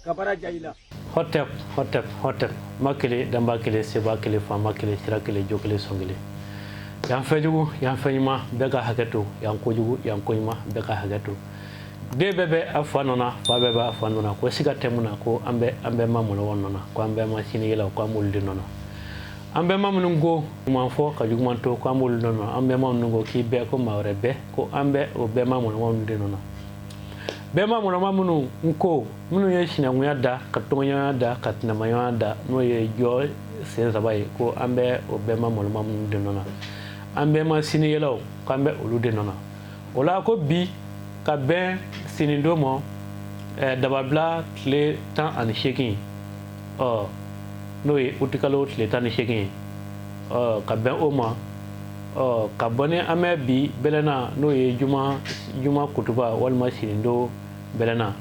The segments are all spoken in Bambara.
kabara ja i la hɔtɛp hɔtɛp hɔtɛp ma kelen danba kelen seba kelen fanba kelen sira kelen jo kelen sɔn kelen yan fɛn jugu yan fɛn ɲuman bɛɛ ka hakɛ to yan ko jugu yan ko ɲuman bɛɛ ka hakɛ to den bɛɛ bɛ a fa nɔ fa bɛɛ b'a fa nɔ ko si ka tɛmɛ na ko an bɛ an bɛma mɔnɔma nɔ ko an bɛma sinikɛlaw ko an de nɔ an bɛma minnu ko ɲuman fɔ ka juguman to ko an b'olu nɔ an bɛma minnu ko k'i bɛɛ ko maa wɛrɛ bɛɛ ko an bɛ o bɛma mɔnɔma de nɔ bɛma mɔnɔma minnu n ko minnu ye sinankunya da ka tɔgɔɲɔgɔnya da ka tɛnɛmaɲɔgɔnya da n'o ye jɔ sen saba ye ko an bɛ o bɛma mɔnɔma minnu de nɔ an bɛɛ ma sinikɛlaw ko an bɛ olu de nɔ o la ko bi ka bɛn sinidon ma eh, dababila tile tan ani seegin ɔ n'o ye utikalo tile tan ni seegin ye ɔ ka bɛn o ma ɔ ka bɔ ni an bɛ bi bɛlɛna n'o ye juma juma kutuba walima sinidon bɛlɛna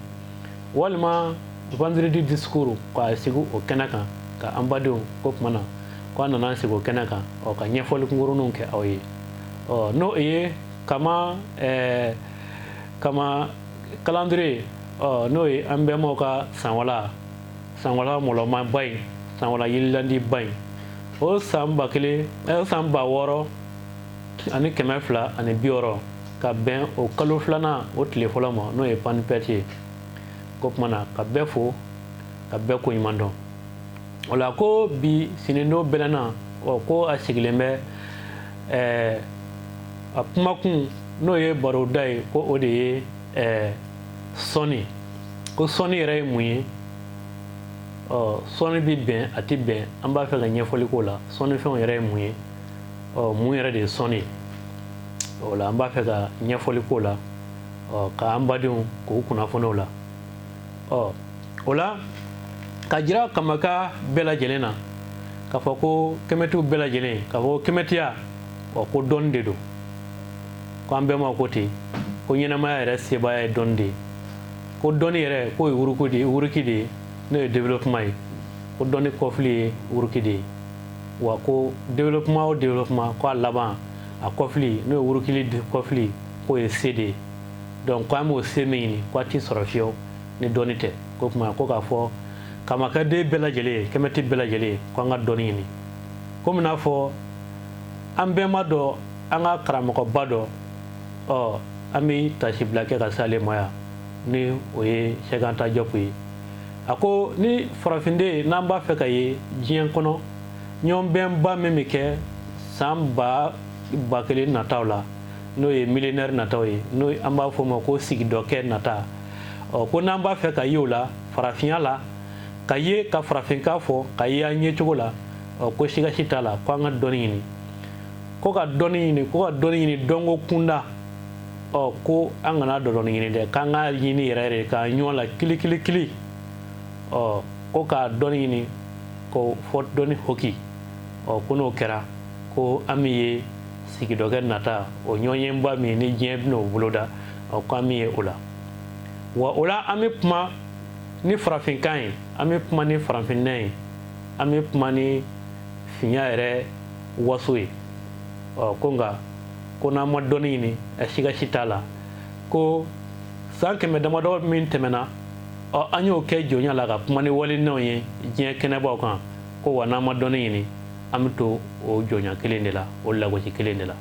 walima vendredi discours ka sigi o kɛnɛ kan ka an badenw k'o tuma na ko an nana sigi o kɛnɛ kan ɔ ka ɲɛfɔli kunkurunninw kɛ aw ye ɔ n'o ye ka ka calendrier ɔ n'o ye an bɛnbaw ka sanwala sanwala mɔlɔmaba in sanwala yirilandiba in o san ba kelen san ba wɔɔrɔ ani kɛmɛ fila ani bi wɔɔrɔ ka bɛn o kalo filanan o tile fɔlɔ ma n'o ye panpɛti ye o tuma na ka bɛɛ fo ka bɛɛ ko ɲuman dɔn o la ko bi sinidon bɛlɛna ɔ ko a sigilen bɛ ɛɛ a kumakun n'o ye baroda ye ko o de ye ɛɛ sɔni ko sɔni yɛrɛ ye mun ye ɔ sɔni bɛ bɛn a tɛ bɛn an b'a fɛ ka ɲɛfɔli k'o la sɔnifɛnw yɛrɛ ye mun ye ɔ mun yɛrɛ de ye sɔni ye o la an b'a fɛ ka ɲɛfɔli k'o la ɔ k'an badenw k'u kunnafoni o la ɔ o la ka jira kamaka bɛɛ lajɛlen na k'a fɔ ko kɛmɛtiw bɛɛ lajɛlen k'a fɔ ko kɛmɛtiya ɔ ko dɔnni de don ko an bɛma ko ten ko ɲɛnamaya yɛrɛ sebaaya ye dɔnni de ye ko dɔnni yɛrɛ k'o ye wuruku de ye wuruki de ye n'o ye développement ye ko dɔnni kɔfili ye wuruki de ye wa ko développement o développement ko a laban a kɔfili n'o ye wurukili kɔfili k'o ye se de ye donc ko an b'o se min ɲini ko a tɛ sɔrɔ fiyew ni dɔnni tɛ ko tuma ko k'a fɔ kamaden bɛɛ lajɛlen ye kɛmɛti bɛɛ lajɛlen ye ko an ka dɔnni ɲini komi n'a fɔ an bɛnba dɔ an ka karamɔgɔba dɔ ɔ an bɛ tasibila kɛ ka s'ale ma yan ni o ye sɛki anta jɔpu ye a ko ni farafinden n'an b'a fɛ ka ye diɲɛ kɔnɔ ɲɔgɔnbɛnba min bɛ kɛ san ba ba kelen nataw la n'o ye milɛnɛri nataw ye n'o an b'a fɔ o ma ko sigidɔkɛ nata ɔ ko n'an b'a fɛ ka ye o la farafinya la ka ye ka farafinkan fɔ ka ye an ye cogo la ɔ ko siga si t'a la ko an ka dɔnni ɲini ko ka dɔnni ɲini ko ka dɔnni ɲini dɔnko kunda ɔ ko an kana dɔdɔni ɲini dɛ k'an k'a ɲini yɛrɛ yɛrɛ k'an ɲɔgɔn la kilikilikili ɔ ko ka dɔnni ɲini ko fo dɔnni hoki ɔ ko n'o kɛra ko an bɛ ye sigidɔkɛ nata o ɲɔgɔnba min ni diɲɛ bɛna o boloda o ko an bɛ ye o la wa o la an bɛ kuma ni farafinkan ye an bɛ kuma ni farafinna ye an bɛ kuma ni finya yɛrɛ waso ye ɔ ko nka ko n'an ma dɔnni ɲini a siga si t'a la ko san kɛmɛ damadɔ min tɛmɛna ɔ an y'o kɛ jɔnya la ka kuma ni walinɛnw ye diɲɛ kɛnɛbaw kan ko wa n'an ma dɔnni ɲini an bɛ to o jɔnya kelen de la o lagosi kelen de la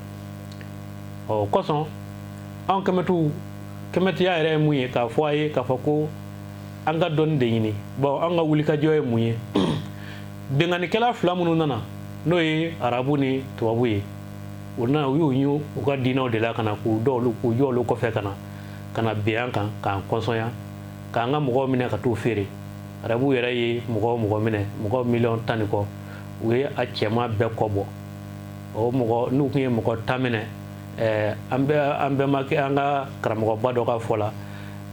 o kosɔn an kɛmɛtu kɛmɛtiya yɛrɛ ye mun ye k'a fɔ a ye k'a fɔ ko an ka dɔnni de ɲini bawo an ka wulikajɔ ye mun ye binkannikɛla fila minnu nana n'o ye arabu ni tubabu ye u nana u y'u ɲu u ka diinɛw de la ka na k'u dɔ olu k'u jɔ olu kɔfɛ ka na ka na bin an kan k'an kɔnsɔnya k'an ka mɔgɔw minɛ ka t'u feere arabuw yɛrɛ ye mɔgɔ mɔgɔ minɛ mɔgɔ miliyɔn tan ni kɔ u ye a cɛman bɛɛ kɔbɔ o mɔgɔ n'u tun ye mɔgɔ tan minɛ ɛɛ an bɛ an bɛnbakɛ an ka karamɔgɔba dɔ ka fɔ la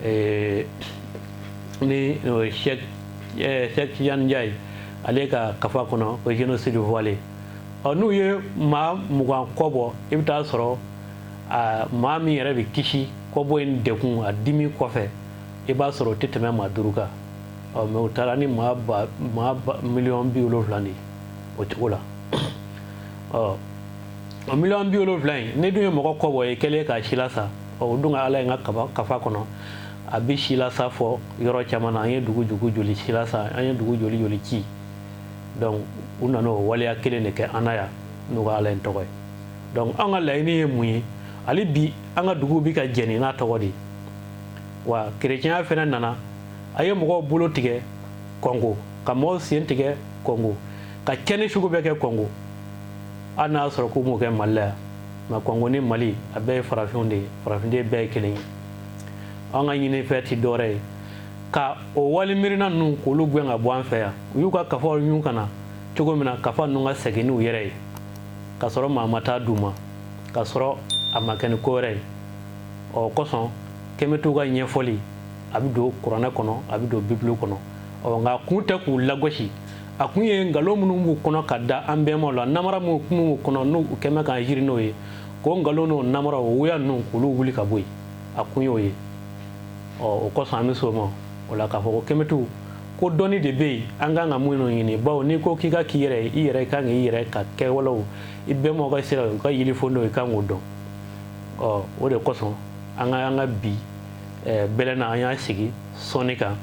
ɛɛ ni sɛki tijani njayi ale ka kafa kɔnɔ o génocide voilé ɔ n'u ye maa mugan kɔbɔ i bɛ taa sɔrɔ a maa min yɛrɛ bɛ kisi kɔbɔ in dekun a dimi kɔfɛ i b'a sɔrɔ o tɛ tɛmɛ maa duuru kan ɔ mais u taara ni maa miliyɔn biwolonwula de o cogo la ɔ o miliyɔn biwolonwula in ne dun ye mɔgɔ kɔbɔ ye kɛlen k'a silasa ɔ o dun ka ala ye u ka kafa kɔnɔ a bɛ silasa fɔ yɔrɔ caman na an ye dugu jugu joli silasa an ye dugu joli joli ci donc u nana o waleya kelen de kɛ an na yan n'u ka ala in tɔgɔ ye donc an ka laɲini ye mun ye hali bi an ka dugu bɛ ka jeni n'a tɔgɔ de ye wa kerecɛnya fana nana a ye mɔgɔw bolo tigɛ kɔngo ka mɔgɔw sen tigɛ kɔngo ka cɛni sugu bɛɛ kɛ kɔngo hali n'a sɔrɔ k'u m'o kɛ mali la yan nka kɔngo ni mali a bɛɛ ye farafinw de ye farafinden bɛɛ ye kelen ye an ka ɲinifɛn tɛ dɔwɛrɛ ye ka o wali miirina ninnu k'olu gɛn ka bɔ an fɛ yan u y'u ka kafaw ɲun ka na cogo min na kafa ninnu ka segin n'u yɛrɛ ye ka sɔrɔ maa ma taa d'u ma ka sɔrɔ a ma kɛ ni ko wɛrɛ ye ɔ kosɔn kɛmɛtiw ka ɲɛfɔli a bɛ don kuranɛ kɔnɔ a bɛ don bibulu kɔnɔ ɔ nka kun tɛ k'u lagosi a kun ye nkalon minnu b'u kɔnɔ ka da an bɛnbaw la namara minnu kun b'u kɔnɔ n'u kɛmɛ ka jiri n'o ye k'o nkalon n'o namara o wuya ninnu k'olu wuli ka bɔ yen a kun y'o ye ɔ o kosɔn an bɛ s'o ma o la k'a fɔ ko kɛmɛtiw ko dɔnni de bɛ yen an kan ka minnu ɲini bawo n'i ko k'i ka k'i yɛrɛ ye i yɛrɛ i kan k'i yɛrɛ ka kɛwalew i bɛnbaw ka sira u ka yelicogo i kan k'o dɔn ɔ o de kosɔn an ka an ka bi bɛlɛna an y'a sigi sɔnni kan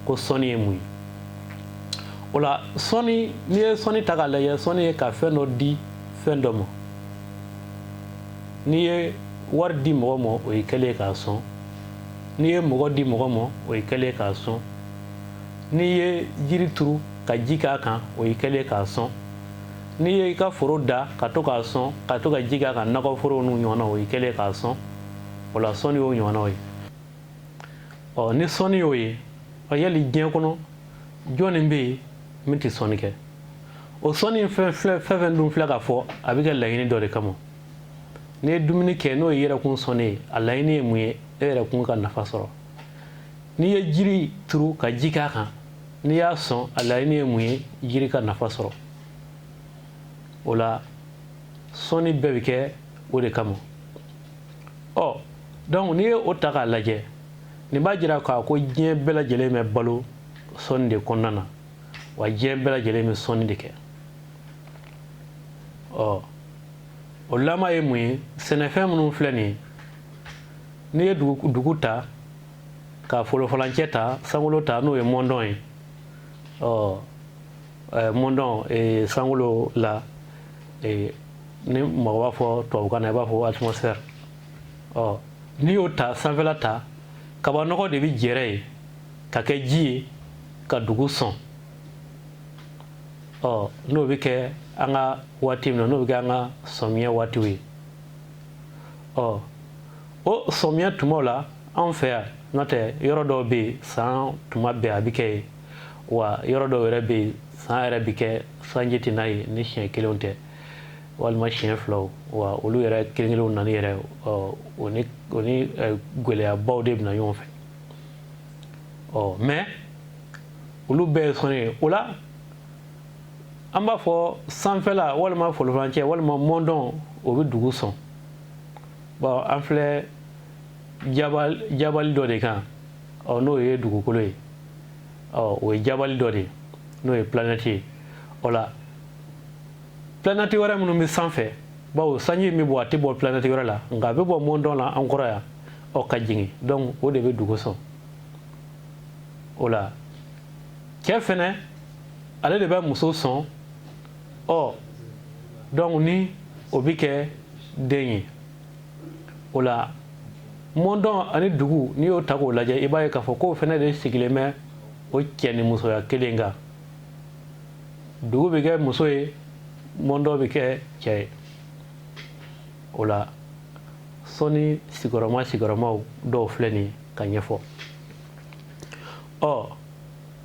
ko sɔnni ye mun ye o la sɔnni n'i ye sɔnni ta k'a lajɛ sɔnni ye ka fɛn dɔ di fɛn dɔ ma n'i ye wari di mɔgɔ ma o ye kɛlen k'a sɔn n'i ye mɔgɔ di mɔgɔ ma o ye kɛlen k'a sɔn n'i ye jiri turu ka ji k'a kan o ye kɛlen k'a sɔn n'i ye i ka foro da ka to k'a sɔn ka to ka ji k'a kan nakɔforow n'u ɲɔgɔnna o ye kɛlen k'a sɔn o la sɔnni y'o ɲɔgɔnnaw ye ɔ ni sɔnni y'o ye ɔ yali diɲɛ kɔnɔ jɔnni bɛ yen min tɛ sɔnni kɛ o sɔnni fɛn fɛn fɛn dun filɛ ka fɔ a bɛ kɛ laɲini dɔ de kama n'i ye dumuni kɛ n'o ye yɛrɛkun sɔnni ye a laɲini ye mun ye e yɛrɛkun ka nafa sɔrɔ n'i ye jiri turu ka ji k'a kan n'i y'a sɔn a laɲini ye mun ye jiri ka nafa sɔrɔ o la sɔnni bɛɛ bɛ kɛ o de kama ɔ donc n'i ye o ta k'a lajɛ nin b'a jira k'a ko diɲɛ bɛɛ lajɛlen bɛ balo sɔnni de kɔnɔna na wa diɲɛ bɛɛ lajɛlen bɛ sɔnni de kɛ ɔ o lama ye mun ye sɛnɛfɛn minnu filɛ nin ye n'i ye dugu ta ka folofalancɛ ta sankolo ta n'o ye mɔndɔn ye ɔ mɔndɔn sankolo la ni mɔgɔ b'a fɔ tubabukan na i b'a fɔ atmosphère ɔ n'i y'o ta sanfɛla ta kabanɔgɔ de bɛ jɛrɛ yen ka kɛ ji ye ka dugu sɔn ɔ n'o bɛ kɛ an ka waati min na n'o bɛ kɛ an ka sɔmiya waatiw ye ɔ o sɔmiya tumaw la anw fɛ yan n'o tɛ yɔrɔ dɔw bɛ yen san tuma bɛɛ a bɛ kɛ yen wa yɔrɔ dɔw yɛrɛ bɛ yen san yɛrɛ bɛ kɛ sanji tɛ na yen ni siɲɛ kelenw tɛ walima siɲɛ filaw wa olu yɛrɛ kelen kelenw nani yɛrɛ ɔ o ni o ni ɛ, gɛlɛyabaw de bɛ na ɲɔgɔn fɛ ɔ mɛ olu bɛɛ ye sɔnni ye o la an b'a fɔ sanfɛla walima folofancɛ walima mɔndɔn o bɛ dugu sɔn bawo an filɛ jabali dɔ de kan ɔ n'o ye dugukolo ye ɔ o ye jabali dɔ de ye n'o ye planɛti ye o la planɛti wɛrɛ minnu bɛ sanfɛ bawo sanji min bɛ bɔ a tɛ bɔ planɛti wɛrɛ la nka a bɛ bɔ mɔndɔn la an kɔrɔ yan ɔ ka jigin donc o de bɛ dugu sɔn o la cɛ fɛnɛ ale de bɛ muso sɔn ɔ donc ni o bɛ kɛ den ye o la mɔndɔn ani dugu n'i y'o ta k'o lajɛ i b'a ye k'a fɔ k'o fɛnɛ de sigilen bɛ o cɛ ni musoya kelen kan dugu bɛ kɛ muso ye mɔndɔn bɛ kɛ cɛ ye o la sɔnni sigiyɔrɔma sigiyɔrɔmaw dɔw filɛ nin k'a ɲɛfɔ ɔ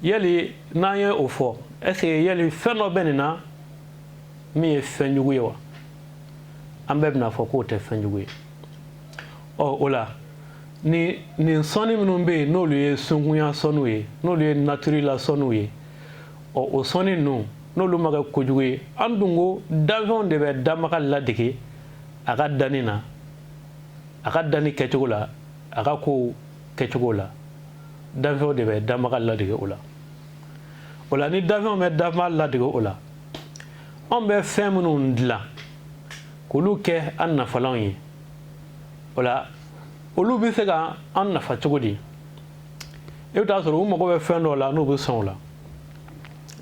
yali n'an ye o fɔ ɛseke yali fɛn dɔ bɛ nin na min ye fɛn jugu ye wa an bɛɛ bɛn'a fɔ k'o tɛ fɛn jugu ye ɔ o la nin nin sɔnni minnu bɛ yen n'olu ye sunkunya sɔnniw ye n'olu ye natiri la sɔnniw ye ɔ o sɔnni ninnu n'olu ma kɛ kojugu ye an dun ko danfɛnw de bɛ danbaga ladege a ka danni na a ka danni kɛcogo la a ka kow kɛcogo la danfɛnw de bɛ danbaga ladege o la o la ni danfɛnw bɛ danbaga ladege o la anw bɛ fɛn minnu dilan k'olu kɛ an nafalanw ye o la olu bɛ se ka an nafa cogo di i bɛ t'a sɔrɔ u mago bɛ fɛn dɔw la n'u bɛ sɔn o la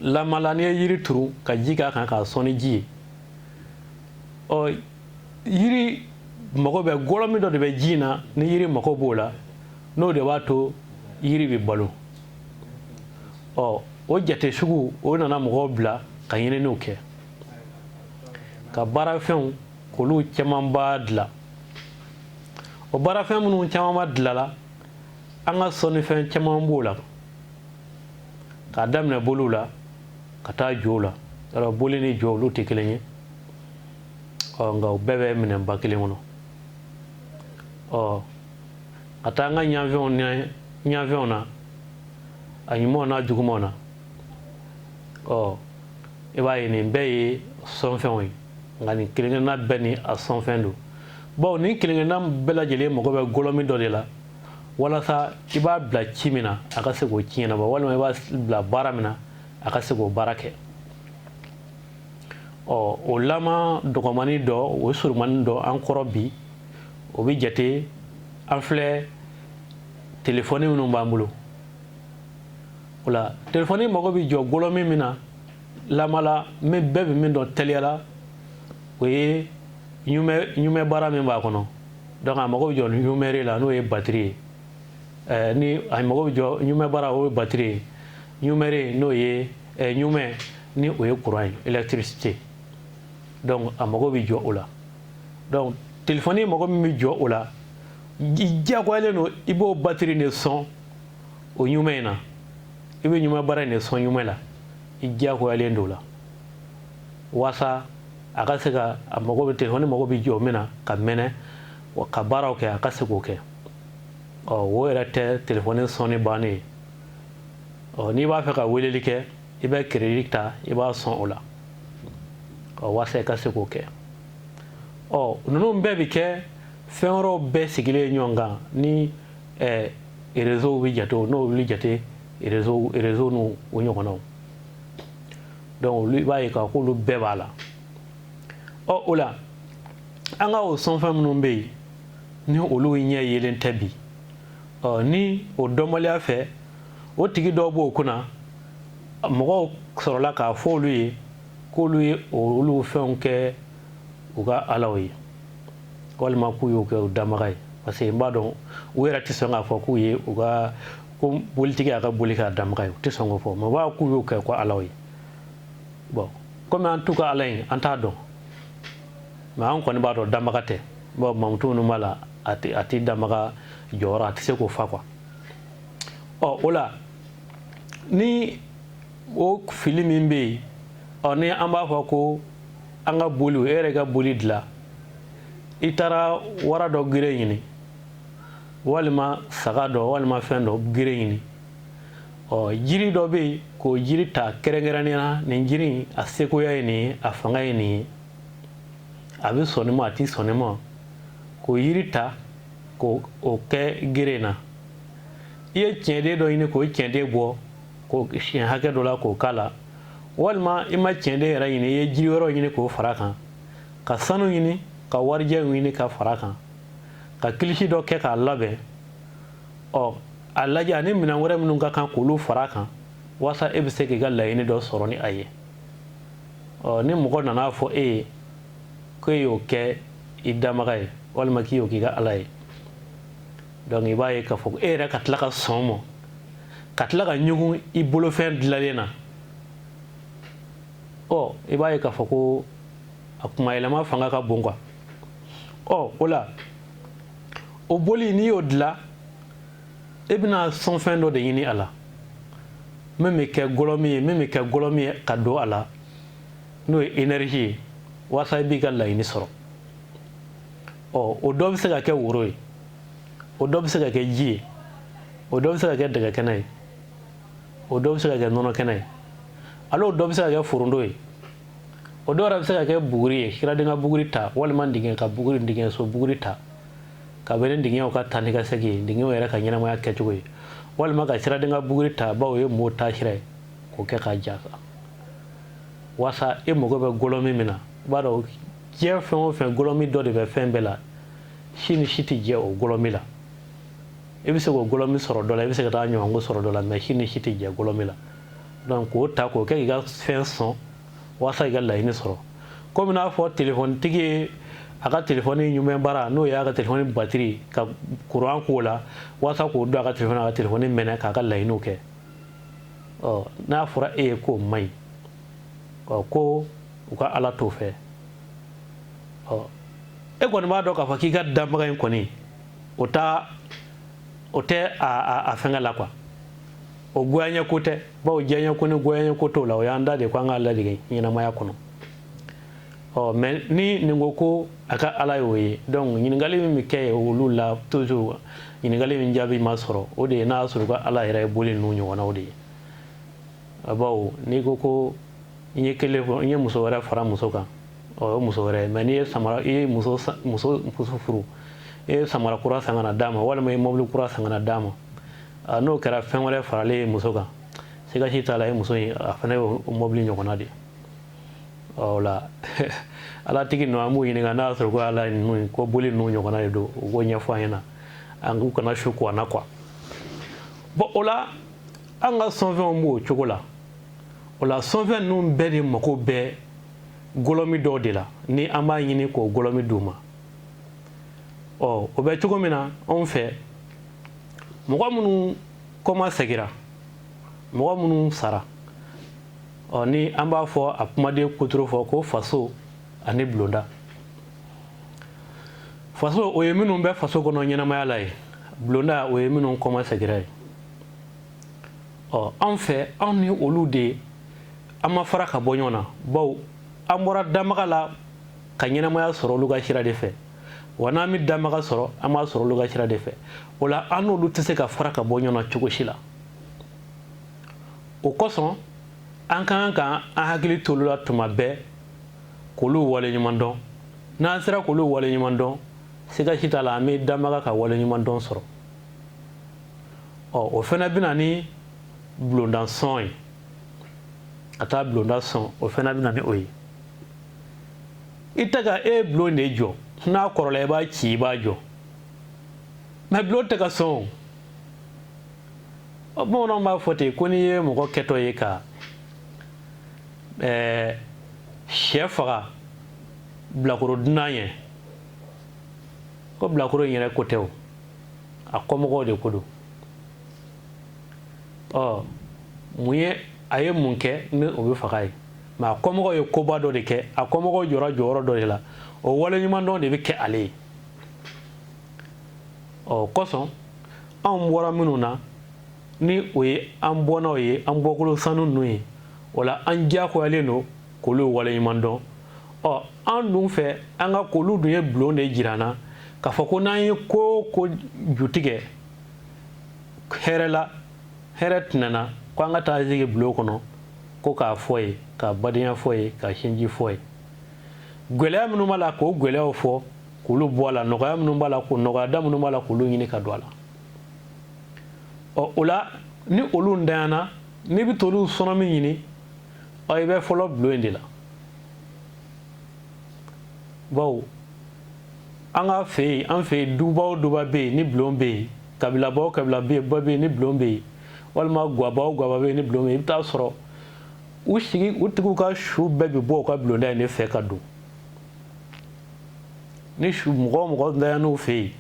lamala n'i ye yiri turu ka ji k'a kan k'a sɔn ni ji ye ɔ yiri mago bɛ gɔlɔ min dɔ de bɛ ji in na ni yiri mago b'o la n'o de b'a to yiri bɛ balo ɔ o jate sugu o nana mɔgɔw bila ka ɲininiw kɛ ka baarafɛnw k'olu camanba dilan o baarafɛn minnu camanba dilala an ka sɔnnifɛn caman b'o la k'a daminɛ boliw la ka taa jow la yɔrɔ boli ni jo olu tɛ kelen ye ɔ nka u bɛɛ bɛ minɛnba kelen kɔnɔ ɔ ka taa an ka ɲafɛnw ni ɲafɛnw na a ɲumanw n'a jugumanw na ɔ i b'a ye nin bɛɛ ye sɔnfɛnw ye nka nin kelenkelenna bɛɛ ni a sɔnfɛn don bawo nin kelenkelenna bɛɛ lajɛlen mago bɛ gɔlɔmi dɔ de la walasa i b'a bila ci min na a ka se k'o ci ɲɛnabɔ walima i b'a bila baara min na a ka se k'o baara kɛ ɔ o lama dɔgɔmani dɔ o ye surumani dɔ an kɔrɔ bi o bɛ jate an filɛ telefɔni minnu b'an bolo o la telefɔni mago bɛ jɔ gɔlɔmi min na lama la min bɛɛ bɛ min dɔn teliya la o ye ɲumɛn bara min b'a kɔnɔ donc a mago bɛ jɔ ɲumɛre la n'o ye batiri ye eh, ni a mago bɛ jɔ ɲumɛn bara o ye batiri ye ɲumɛre n'o ye ɛ ɲumɛn ni o ye kuran ye électricité donc a mago bɛ jɔ o la donc telefɔni mago min bɛ jɔ o la i diyagoyalen don i b'o batiri de sɔn o ɲumɛn in na i bɛ ɲumɛn bara in de sɔn ɲumɛn la i diyagoyalen don o la waasa a ka se ka a mago bɛ telefɔni mago bɛ jɔ min na ka mɛnɛ ka baaraw kɛ a ka se k'o kɛ ɔ o yɛrɛ tɛ telefɔni sɔnni bannen ye ɔ n'i b'a fɛ ka weleli kɛ i bɛ keredi ta i b'a sɔn o la ɔ walasa i ka se k'o kɛ ɔ ninnu bɛɛ bɛ kɛ fɛn wɛrɛw bɛɛ sigilen ɲɔgɔn kan ni ɛɛ erezow bɛ jate o n'o wuli jate erezo erezo n'o ɲɔgɔnnaw donc olu i b'a ye k'a k'olu bɛɛ b'a la ɔ o la an ka o sɔnfɛn minnu bɛ yen ni olu ɲɛ yelen tɛ bi ɔ ni o dɔnbaliya fɛ o tigi dɔw b'o kunna mɔgɔw sɔrɔla k'a fɔ olu ye k'olu ye olu fɛnw kɛ u ka alaw ye walima k'u y'o kɛ u danbaga ye parce que n b'a dɔn u yɛrɛ tɛ sɔn k'a fɔ k'u ye u ka ko bolitigi y'a ka boli k'a danbaga ye u tɛ sɔn k'o fɔ mɛ b'a k'u y'o kɛ u ka alaw ye bɔn komi an t'u ka ala ye an t'a dɔn mɛ an kɔni b'a dɔn danbaga tɛ bɔn mankutu minnu b'a la a tɛ a tɛ danbaga jɔyɔrɔ a tɛ se k'o fa quoi ɔ o la ni o fili min bɛ yen ɔ ni an b'a fɔ ko an ka boli e yɛrɛ ka boli dilan i taara wara dɔ gere ɲini walima saga dɔ walima fɛn dɔ gere ɲini ɔ jiri dɔ bɛ yen k'o jiri ta kɛrɛnkɛrɛnnenya na nin jiri in a sekoya ye nin ye a fanga ye nin ye a bɛ sɔn nin ma a tɛ sɔn nin ma k'o yiri ta k'o kɛ gere na i ye tiɲɛden dɔ ɲini k'o tiɲɛden bɔ k'o siɲɛ hakɛ dɔ la k'o k'a la walima i ma tiɲɛden yɛrɛ ɲini i ye jiri wɛrɛw ɲini k'o fara kan ka sanu ɲini ka warijɛ ɲini ka fara kan ka kilisi dɔ kɛ k'a labɛn ɔ a lajɛ ani minɛn wɛrɛ minnu ka kan k'olu fara kan walasa e bɛ se k'i ka laɲini dɔ sɔrɔ ni a ye ɔ ni mɔgɔ nana a fɔ e ye ko e y'o kɛ i danbaga ye walima k'i y'o k'i ka ala ye donc i b'a ye k'a fɔ e yɛrɛ ka tila ka sɔn mɔ ka tila ka ɲugun i bolofɛn dilalen na ɔ i b'a ye k'a fɔ ko a kuma yɛlɛma fanga ka bon quoi ɔ o la o boli n'i y'o dila e bɛna sɔnfɛn dɔ de ɲini a la min bɛ kɛ gɔlɔmi ye min bɛ kɛ gɔlɔmi ye ka don a la n'o ye energie ye walasa i b'i ka laɲini sɔrɔ ɔ o dɔ bɛ se ka kɛ woro ye o dɔ bɛ se ka kɛ ji ye o dɔ bɛ se ka kɛ dɛgɛ kɛnɛ ye o dɔ bɛ se ka kɛ nɔnɔ kɛnɛ ye ale o dɔ bɛ se ka kɛ foronto ye o dɔw yɛrɛ bɛ se ka kɛ buguri ye siraden ka buguri ta walima dingɛ ka buguri dingɛ so buguri ta ka bɛn ni dingɛw ka taa ni ka segin ye dingɛw yɛrɛ ka ɲɛnamaya kɛcogo ye walima ka siraden ka buguri ta bawo o ye mɔgɔw taasira ye k'o kɛ k'a ja kan walasa e mago bɛ gɔlɔmi min na i b'a dɔn diɲɛ fɛn o fɛn gɔlɔmi dɔ de bɛ fɛn bɛɛ la si ni si tɛ jɛ o gɔlɔmi la i bɛ se k'o gɔlɔmi sɔrɔ dɔ la i bɛ se ka taa ɲɔgɔnko sɔrɔ dɔ la mɛ si ni si tɛ jɛ gɔlɔmi la donc k'o ta k'o kɛ k'i ka fɛn sɔn walasa i ka laɲini sɔrɔ komi n'a fɔ telefɔnitigi ye a ka telefɔni ɲumɛnbara n'o y'a ka telefɔni batiri ka kuran k'o la walasa k'o don a ka telefɔni a ka telefɔni mɛnɛ k'a ka laɲiniw kɛ n'a fɔra e ye ko o man ɲi ko u ka ala t'o fɛ e kɔni b'a dɔn k'a fɔ k'i ka danbaga in kɔni o taa o tɛ a fɛn la quoi o goya ko tɛ bawo diya ko ni goya ko t'o la o y'an dan de ko an ka latigɛ ɲɛnamaya kɔnɔ ɔ mɛ ni nin ko ko a ka ala y'o ye donc ɲininkali min bɛ kɛ ye olu la toujours ɲininkali min jaabi ma sɔrɔ o de ye n'a sɔrɔ ka ala yɛrɛ ye boli ninnu ɲɔgɔnnaw de ye a bawo n'i ko ko n ye kelen fɔ n ye muso wɛrɛ fara muso kan o ye muso wɛrɛ mɛ n'i ye samara i ye muso muso furu i ye samara kura san ka na d'a ma walima i ye mobili kura san ka na d'a ma n'o kɛra fɛn wɛrɛ faralen ye muso kan sika si t'a la ye muso in a fana ye mobili ɲɔgɔnna de ye la ala tigi nɔ an b'u ɲini n'a y'a sɔrɔ ko ala ye ko boli n'u ɲɔgɔnna ye don u ko ɲɛfɔ an ɲɛna an k'u kana su ko na k'u bɔn o la an ka sɔnfɛnw b'o cogo la o la sɔnfɛn ninnu bɛɛ de mako bɛ golɔmi dɔw de la ni an b'a ɲini k'o golɔmi d' u ma ɔ o bɛ cogo min na anw fɛ mɔgɔ minnu kɔma seginna mɔgɔ minnu sara ɔ ni an b'a fɔ a kumaden kutoro fɔ ko faso ani bulonda faso o ye minnu bɛ faso kɔnɔ ɲɛnamaya la ye bulonda o ye minnu kɔma segira ye ɔ anw fɛ anw ni olu de ye an ma fara ka bɔ ɲɔgɔn na bawo an bɔra dabaga la ka ɲɛnamaya sɔrɔ olu ka sira de fɛ wa n'an bɛ dabaga sɔrɔ an b'a sɔrɔ olu ka sira de fɛ o la an n'olu tɛ se ka fara ka bɔ ɲɔgɔn na cogo si la o kosɔn an ka kan ka an hakili t'olu la tuma bɛɛ k'olu waleɲumandɔn n'an sera k'olu waleɲumandɔn siga si t'a la an bɛ dabaga ka waleɲumandɔn sɔrɔ ɔ o fana bɛ na ni bulonda sɔn ye ka taa bulonda sɔn o fana bɛ na ni o ye i tɛ ka e bulon de jɔ n'a kɔrɔla i b'a ci i b'a jɔ mɛ bulon tɛ ka sɔn o ɔ bamananw b'a fɔ ten ko n'i ye mɔgɔ kɛtɔ ye ka ɛɛ sɛ faga bilakoro dunan ye ko bilakoro in yɛrɛ ko tɛ o a kɔmɔgɔw de ko don ɔ mun ye a ye mun kɛ ni o bɛ fag'a ye mɛ a kɔmɔgɔw ye koba dɔ de kɛ a kɔmɔgɔw jɔra jɔyɔrɔ dɔ de la o waleɲumandɔn de bɛ kɛ ale ye o kosɔn anw bɔra minnu na ni o ye an bɔnnaw ye an bɔkolo sanu ninnu ye o la an diyakoyalen don k'olu waleɲumandɔn ɔ an dun fɛ an ka k'olu dun ye bulon de jira an na k'a fɔ ko n'an ye ko o ko jutigɛ hɛrɛ la hɛrɛ tɛnɛna ko an ka taa sigi bulon kɔnɔ ko k'a fɔ yen ka badenya fɔ yen ka sinji fɔ yen gɛlɛya minnu b'a la k'o gɛlɛyaw fɔ k'olu bɔ a la nɔgɔya minnu b'a la ko nɔgɔyada minnu b'a la k'olu ɲini ka don a la ɔ o la ni olu ntanyana n'i bɛ t'olu sɔnɔ min ɲini ɔ i bɛ fɔlɔ bulon in de la bawo an ka fɛ yen an fɛ yen duba o duba bɛ yen ni bulon bɛ yen kabilaba o kabila bɛ yen ba bɛ yen ni bulon bɛ yen walima gwaba o gwaba bɛ yen ni bulon bɛ yen i bɛ t'a sɔrɔ u sigi u tigiw ka su bɛɛ bɛ bɔ u ka bulonda in de fɛ ka don ni su mɔgɔ mɔgɔ daya n'o fɛ yen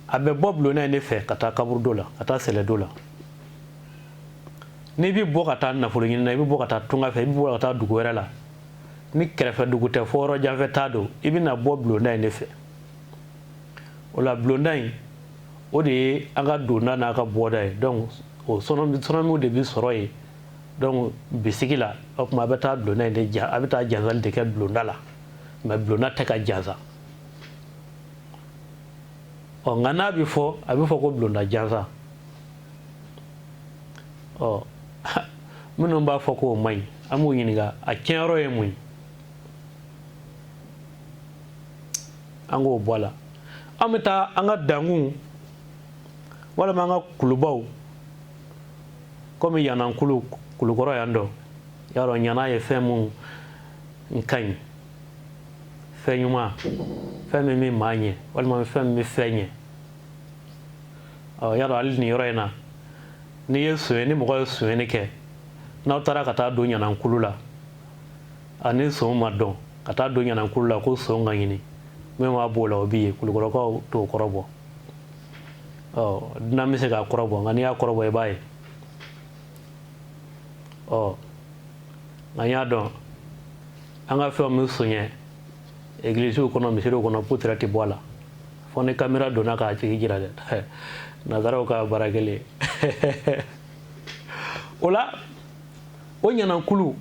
a bɛ bɔ bulon de fɛ ka taa kaburudo la ka taa sɛlɛdo la n'i bɛ bɔ ka taa nafolo ɲini na i bɛ bɔ ka taa tunga fɛ i bɛ bɔ ka taa dugu wɛrɛ la ni kɛrɛfɛ dugu tɛ fo yɔrɔ janfɛ t'a don i bɛ na bɔ bulonda in de fɛ o la bulonda in o de ye an ka donda n'an ka bɔda ye donc o sɔnɔmiw de bɛ sɔrɔ yen donc bisigi la o tuma a bɛ taa bulonda in de ja a bɛ taa jansali de kɛ bulonda la nka bulonda tɛ ka jansa ɔ nka n'a bɛ fɔ a bɛ fɔ ko bulonda jansa ɔ minnu b'a fɔ k'o man ɲi an b'u ɲininka a tiɲɛyɔrɔ ye mun ye an k'o bɔ a la an bɛ taa an ka dankunw walima an ka kulubaw komi ɲanankulu kulukɔrɔ yan ɔ y'a dɔn ɲana ye fɛn mun n ka ɲi fɛn ɲuman fɛn min bɛ maa ɲɛ walima fɛn min bɛ fɛn ɲɛ ɔ y'a dɔn hali nin yɔrɔ in na n'i ye sonyɛ ni mɔgɔ ye sonyɛni kɛ n'aw taara ka taa don ɲanankulu la ani son ma dɔn ka taa don ɲanankulu la ko son ka ɲini min b'a b'o la o bɛ ye kulukɔrɔkaw t'o kɔrɔbɔ ɔ dunan bɛ se k'a kɔrɔbɔ nka n'i y'a kɔrɔbɔ i b'a ye ɔ nka y'a dɔn an ka fɛn min sonya egilisiw kɔnɔ misiriw kɔnɔ putura tɛ bɔ a la fo ni kamera donna k'a tigi jira dɛ nazaraw ka baara kelen o la o ɲanankulu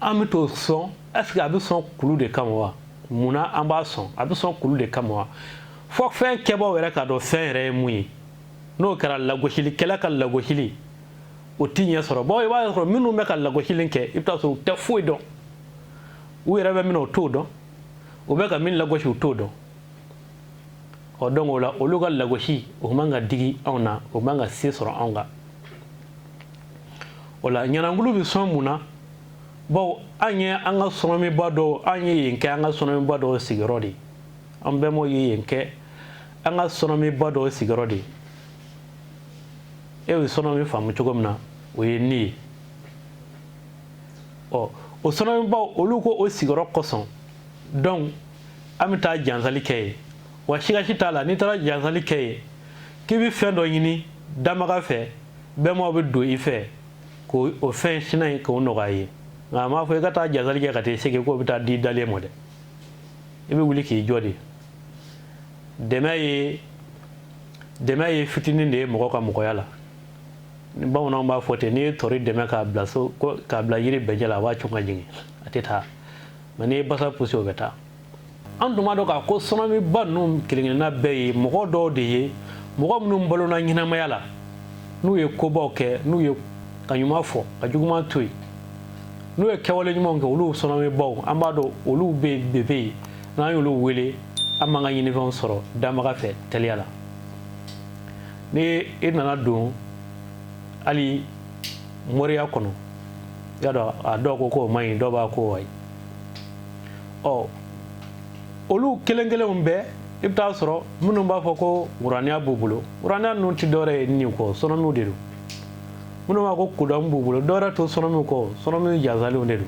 an bɛ t'o sɔn ɛseke a bɛ sɔn kulu de kama wa mun na an b'a sɔn a bɛ sɔn kulu de kama wa fo fɛn kɛbaaw yɛrɛ k'a dɔn fɛn yɛrɛ ye mun ye n'o kɛra lagosilikɛla ka lagosili o tɛ ɲɛ sɔrɔ bawo i b'a sɔrɔ minnu bɛ ka lagosili kɛ i bɛ taa sɔrɔ u tɛ foyi dɔn u yɛrɛ bɛ min u t'o dɔn u bɛ ka min lagosi u t'o dɔn ɔ donc o la olu ka lagosi o man ka digi anw na o man ka se sɔrɔ anw kan o la ɲanankulu bɛ sɔn mun na bawo an ye an ka sɔnɔmiba dɔw an ye yen kɛ an ka sɔnɔmiba dɔw sigiyɔrɔ de an bɛnbaw ye yen kɛ an ka sɔnɔmiba dɔw sigiyɔrɔ de aw ye sɔnɔmi faamu cogo min na o ye nin ye ɔ o sɔnɔmibaw olu ko o sigiyɔrɔ kosɔn donc an bɛ taa jansali kɛ yen wa sikasi t'a la n'i taara jansali kɛ yen k'i bɛ fɛn dɔ ɲini damaga fɛ bɛnbaw bɛ don i fɛ k'o o fɛn sira in k'o nɔgɔya i ye nka a m'a fɔ i ka taa jansali kɛ ka taa i sigi k'o bɛ taa d'i dalen ma dɛ i bɛ wuli k'i jɔ de dɛmɛ ye dɛmɛ ye fitinin de ye mɔgɔ ka mɔgɔya la ni bamananw b'a fɔ ten n'i ye tɔri dɛmɛ k'a bila so k'a bila yiri bɛjɛ la a b'a cun ka jigin a tɛ taa mais n'i ye basa pusi o bɛ taa an tun b'a dɔn k'a ko sɔnɔmiba ninnu kelenkelenna bɛɛ ye mɔgɔ dɔw de ye mɔgɔ minnu balona ɲɛnamaya la n'u ye kobaw kɛ n'u ye kan ɲuman fɔ ka juguman to yen n'u ye kɛwale ɲumanw kɛ olu sɔnɔmibaw an b'a dɔn olu bɛɛ bɛ yen n'an y'olu wele an b'an ka ɲinifɛnw sɔrɔ danbaga fɛ teliya la ni e nana don hali moriya kɔnɔ y'a dɔn a dɔw ko k'o man ɲi dɔw b'a ko wayi ɔ olu kelen kelenw bɛɛ i bɛ taa sɔrɔ minnu b'a fɔ ko wuraniya b'u bolo wuraniya ninnu tɛ dɔwɛrɛ ye nin kɔ sɔnɔmiw de don minnu b'a ko kodɔn b'u bolo dɔwɛrɛ tɛ sɔnɔmiw kɔ sɔnɔmiw jansalenw de don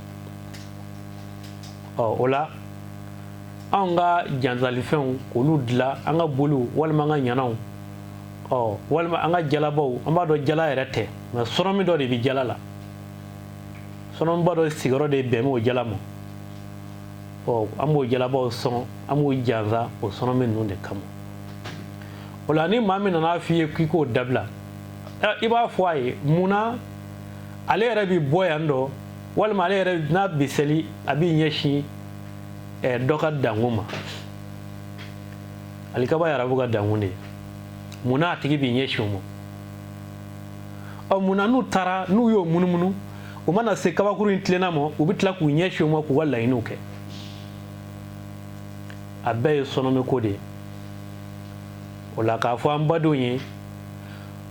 ɔ o la anw ka jansalifɛnw k'olu dilan an ka boliw walima an ka ɲanaw ɔ walima an ka jalabaw an b'a dɔn jala yɛrɛ tɛ nka sɔnɔmi dɔ de bɛ jala la sɔnɔmiba dɔ sigiyɔrɔ de bɛnnen b'o jala ma ɔ an b'o jalabaw sɔn an b'o jansa o sɔnɔmi ninnu de kama o la ni maa min nana f'i ye k'i k'o dabila i b'a fɔ a ye mun na ale yɛrɛ bɛ bɔ yan dɔ walima ale yɛrɛ n'a bɛ seli a b'i ɲɛsin eh, dɔ ka dankun ma alikaba ye arabu ka dankun de ye mun n'a tigi b'i ɲɛsin o ma ɔ mun na n'u taara n'u y'o munumunu u mana se kabakuru in tilenna ma u bɛ tila k'u ɲɛsin o ma k'u ka laɲiniw kɛ a bɛɛ ye sɔnɔmiko de ye o la k'a fɔ an badenw ye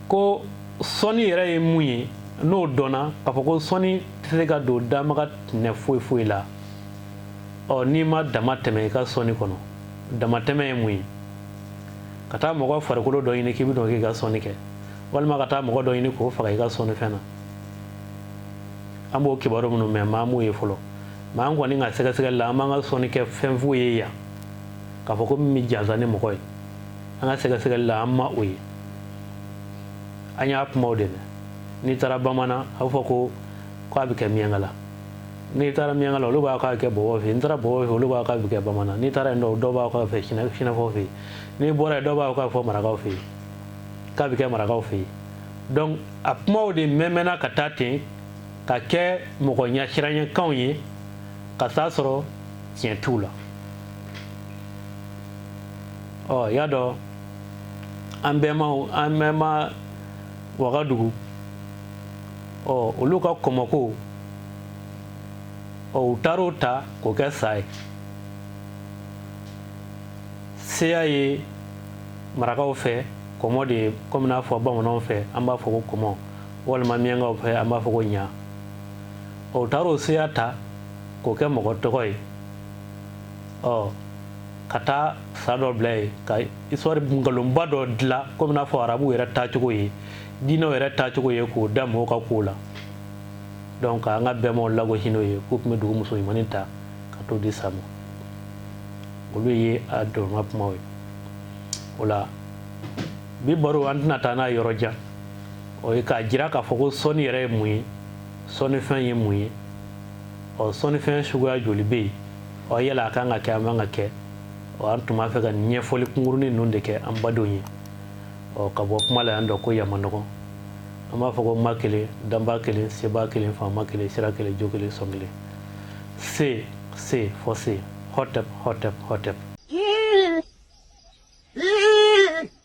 ko sɔnni yɛrɛ ye mun ye n'o dɔnna k'a fɔ ko sɔnni tɛ se ka don danbaga tɛnɛ foyi foyi la ɔ n'i ma damatɛmɛ i ka sɔnni kɔnɔ damatɛmɛ ye mun ye ka taa mɔgɔ farikolo dɔ ɲini k'i bɛ dɔn k'i ka sɔnni kɛ walima ka taa mɔgɔ dɔ ɲini k'o faga i ka sɔnni fɛn na an b'o kibaru minnu mɛn maa m'o ye fɔlɔ maa an kɔni ka sɛgɛsɛgɛli la an m'an ka sɔnnikɛfɛn foyi ye yan k'a fɔ ko min bɛ jansa ni mɔgɔ ye an ka sɛgɛsɛgɛli la an ma o ye an y'a kumaw de mɛn n'i taara bamananna a b'a fɔ ko k'a bɛ kɛ miyankala n'i taara miyankala olu b'a k'a kɛ bɔbɔ fɛ yen n'i taara bɔbɔ fɛ olu b'a k'a bɛ kɛ bamananna n'i taara yen dɔw b'a k'a bɛ sinafɔ fɛ yen n'i bɔra yen dɔw b'a k'a fɔ marakaw fɛ yen k'a bɛ kɛ marakaw fɛ yen donc a kumaw de mɛnmɛnna ka taa ten ka kɛ mɔgɔ ɲɛsiranyakanw ye ka taa sɔrɔ tiɲɛ t'u la ɔ y'a dɔn an bɛnbaw an bɛnba wagadugu ɔ olu ka kɔmɔko ɔ u taar'o ta k'o kɛ sa ye seya ye marakaw fɛ kɔmɔ de ye komi n'a fɔ bamananw fɛ an b'a fɔ ko kɔmɔ walima miyankaw fɛ an b'a fɔ ko ɲa ɔ u taar'o seya ta k'o kɛ mɔgɔ tɔgɔ ye ɔ ka taa sa dɔ bila yen ka histoire nkalonba dɔ dilan komi n'a fɔ arabu yɛrɛ taacogo ye diinɛw yɛrɛ taacogo ye k'o da mɔgɔw ka kow la donc an ka bɛnbaw lagosi n'o ye k'u tun bɛ dugu muso ɲumannin ta ka t'o di sa ma olu ye a dɔrɔma kumaw ye o la bi baro an tɛna taa n'a yɔrɔ jan o ye k'a jira k'a fɔ ko sɔnni yɛrɛ ye mun ye sɔnnifɛn ye mun ye ɔ sɔnnifɛn suguya joli bɛ yen ɔ yala a kan ka kɛ a man ka kɛ ɔ an tun b'a fɛ ka ɲɛfɔli kunkurunin ninnu de kɛ an badenw ye ɔ ka bɔ kuma la yan dɔ ko yama nɔgɔn an b'a fɔ ko ma kelen danba kelen seba kelen faama kelen sira kelen jo kelen sɔn kelen se se fɔ se hɔtɛp hɔtɛp hɔtɛp